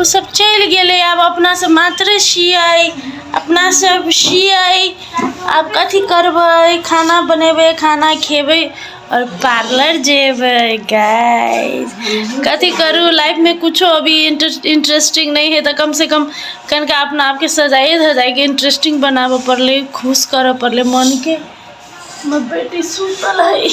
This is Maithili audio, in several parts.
ओसभ चलि गेलै आब अपनासभ मात्रे छियै अपनासभ छियै आब कथी करबै खाना बनेबै खाना खयबै आओर पार्लर जयबै गाइज कथी करू लाइफमे किछो अभी इन्टर इन्टरेस्टिंग नहि हइ तऽ कमसँ कम कनिका अपना आपके सजाइए धजाइके इन्टरेस्टिंग बनाबय पड़लै खुश करय पड़लै मोनके हमर बेटी सूतल हइ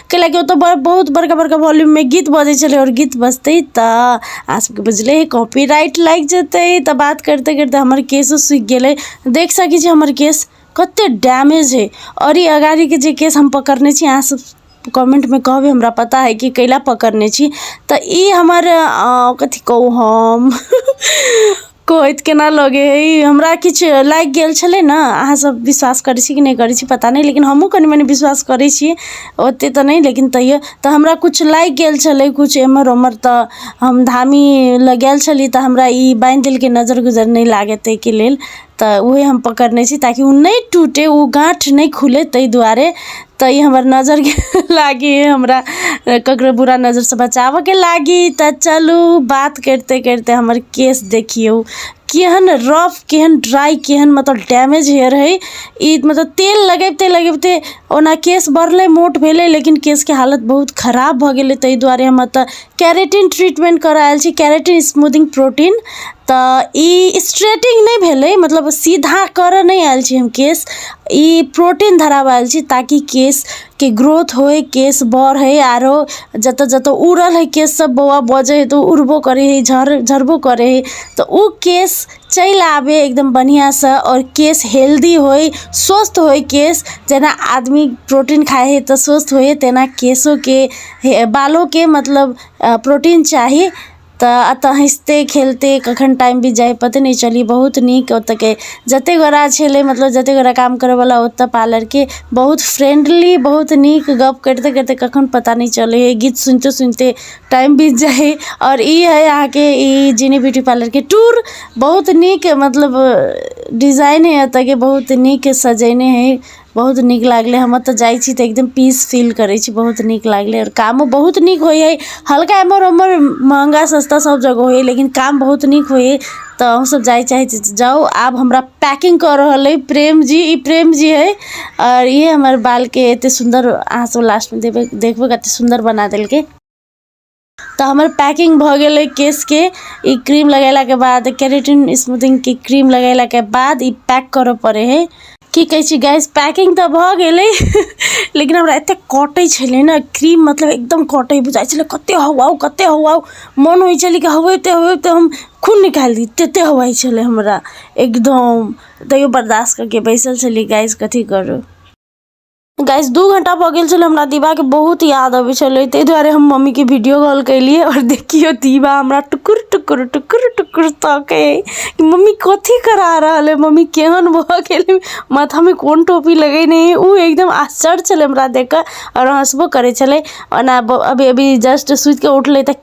कैला कि ओतऽ बड़ बहुत बड़का बड़का वॉल्यूम में गीत बजै छलै और गीत बजतै तऽ अहाँ सबके बुझले है कॉपीराइट लागि जेतै तऽ बात करते करते हमर केसो सुखि गेलै देख सकै छी हमर केस कते डैमेज है और ई अगाड़ी के जे केस हम पकड़ने छी अहाँ सब कमेंट में कहबै हमरा पता है कि कैला पकड़ने छी तऽ ई हमर अ, कथी कहू हम कहैत केना लगै हे ई हमरा किछु लागि गेल छलै ने अहाँ सब विश्वास करै छी कि नहि करै छी पता नहि लेकिन हमहूँ कनी मनी विश्वास करै छी ओतेक तऽ नहि लेकिन तैओ तऽ हमरा किछु लागि गेल छलै किछु एम्हर ओम्हर तऽ हम धामी लग गेल छली तऽ हमरा ई बान्हि देलकै नजरि गुजरि नहि लागै ताहिके लेल तऽ उएह हम पकड़ने छी ताकि ओ नहि टूटय ओ गाँठ नहि खुलय ताहि दुआरे तऽ ई हमर नजरके लागी हमरा ककरो बुरा नजरसँ बचाबयके लागी तऽ चलू बात करिते करिते हमर केश देखियौ केहन रफ केहन ड्राइ केहन मतलब डैमेज हेयर हइ ई मतलब तेल लगबिते लगबिते ओना केश बढ़लै मोट भेलै लेकिन केशके हालत बहुत खराब भऽ गेलै ताहि दुआरे हम एतय केरेटिन ट्रीटमेन्ट करा आएल छी केरेटिन स्मूदिङ्ग प्रोटीन तऽ ई स्ट्रेटिङ्ग नहि भेलै मतलब सीधा करऽ नहि आएल छी हम केश ई प्रोटीन धराबऽ आएल छी ताकि केशके ग्रोथ होइ केश बढ़ै आओर जतऽ जतऽ उड़ल हइ केशसब बौआ बजै हइ तऽ ओ उड़बो करै हइ झड़ झड़बो करै हइ तऽ ओ केश चलि आबै एकदम बढ़िआँसँ आओर केश हेल्दी होइ स्वस्थ होइ केश जेना आदमी प्रोटीन खाइ हइ तऽ स्वस्थ होइ हइ तेना केशोके हे बालोके मतलब प्रोटीन चाही तऽ एतऽ हँसिते खेलते कखन टाइम बीत जाइ हइ पते नहि चलय बहुत नीक ओतऽके जते गोरा छलय मतलब जते गोरा काम करयवला ओतऽ पार्लरके बहुत फ्रेंडली बहुत नीक गप करिते करिते कखन पता नहि चलय हइ गीत सुनिते सुनिते टाइम बीत जाइ हइ आओर ई हइ अहाँके ई जेना ब्यूटी पार्लरके टूर बहुत नीक मतलब डिजाइन हइ एतऽके बहुत नीक सजेने हइ बहुत नीक लागलै हम ओतऽ जाइ छी तऽ एकदम पीस फील करै छी बहुत नीक लागलै आओर कामो बहुत नीक होइ हइ हल्का एम्हर ओम्हर महगा सस्ता सब जगह होइ हइ लेकिन काम बहुत नीक होइ हइ तऽ अहूँसभ जाइ चाहै छी तऽ जाउ आब हमरा पैकिन्ग कऽ रहल अइ प्रेम जी ई प्रेम जी हइ आओर इएह हमर बालके एतेक सुन्दर अहाँसभ लास्टमे देबै देखबै कतेक सुन्दर बना देलकै तऽ हमर पैकिंग भऽ गेलै केशके ई क्रीम लगेलाके बाद केरेटिन स्मूथिंगके क्रीम लगेलाके बाद ई पैक करऽ पड़ै हइ की कहै छी गैस पैकिंग तऽ भऽ गेलै लेकिन हमरा एतेक कटै छलै ने क्रीम मतलब एकदम कटै बुझाइ छलै कतेक हवाउ कतेक हवाउ मोन होइ छलै कि हवैते हवैते हम खून निकालि दी ततेक हवाइ छलै हमरा एकदम तैयो बर्दाश्त कऽ कऽ बैसल छलियै गैस कथी करू गाइस दू घंटा भऽ गेल छलै हमरा दीवाके बहुत याद अबै छलै ताहि दुआरे हम मम्मीके वीडियो कॉल केलिए आओर देखियो दीवा हमरा टुकुर टुकुर टुकुर टुकुर तके कि मम्मी कथी करा रहल है मम्मी केहन भऽ गेल माथामे कोन टोपी लगेने है ओ एकदम आश्चर्य छलै हमरा देख कऽ आओर हँसबो करै छलै ओना अभी अभी जस्ट सुति कऽ उठलै तऽ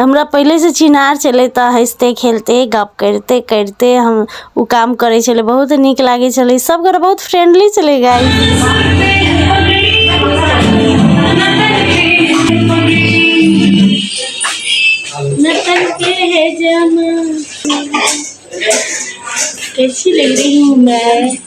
हमरा पहिलेसँ चिन्हार छलै तऽ हँसिते खेलते गप्प करिते करिते हम ओ काम करै छलै बहुत नीक लागै छलै सभगोरे बहुत फ्रेंडली छलै गाय कैसी लग रही हूँ मैं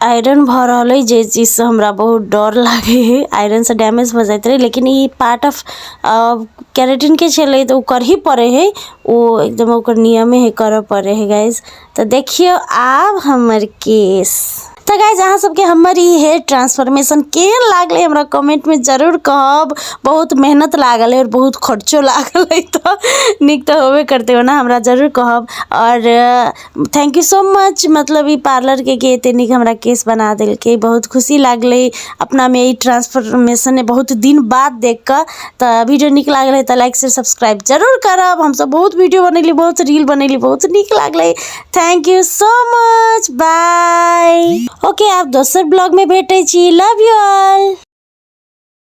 आइरन भऽ रहल अइ जाहि चीजसँ हमरा बहुत डर लागै हइ आइरनसँ डैमेज भऽ जाइत रहै लेकिन ई पार्ट ऑफ केरेटिनके छलै तऽ ओ करही पड़ै हइ ओ एकदम ओकर नियमे हइ करऽ पड़ै हइ गाइज तऽ देखियौ आब हमर केस तऽ गाइज अहाँ सबके हमर ई हेयर ट्रांसफॉर्मेशन केहन लागलै हमरा कमेंटमे जरूर कहब बहुत मेहनत लागल है और बहुत खर्चो लागल है तऽ नीक तऽ होबे करतै ओना हमरा जरूर कहब और थैंक यू सो मच मतलब ई पार्लरके कि एतेक नीक हमरा केश बना देलकै बहुत खुशी लागलै अपनामे ई ट्रांसफॉर्मेशन बहुत दिन बाद देख कऽ तऽ वीडियो नीक लागल है तऽ लाइक से सब्सक्राइब जरूर करब हमसब बहुत वीडियो बनेली बहुत रील बनेली बहुत नीक लागलै thank you so much bye okay आब दोसर ब्लॉगमे भेटै छी लव यू ऑल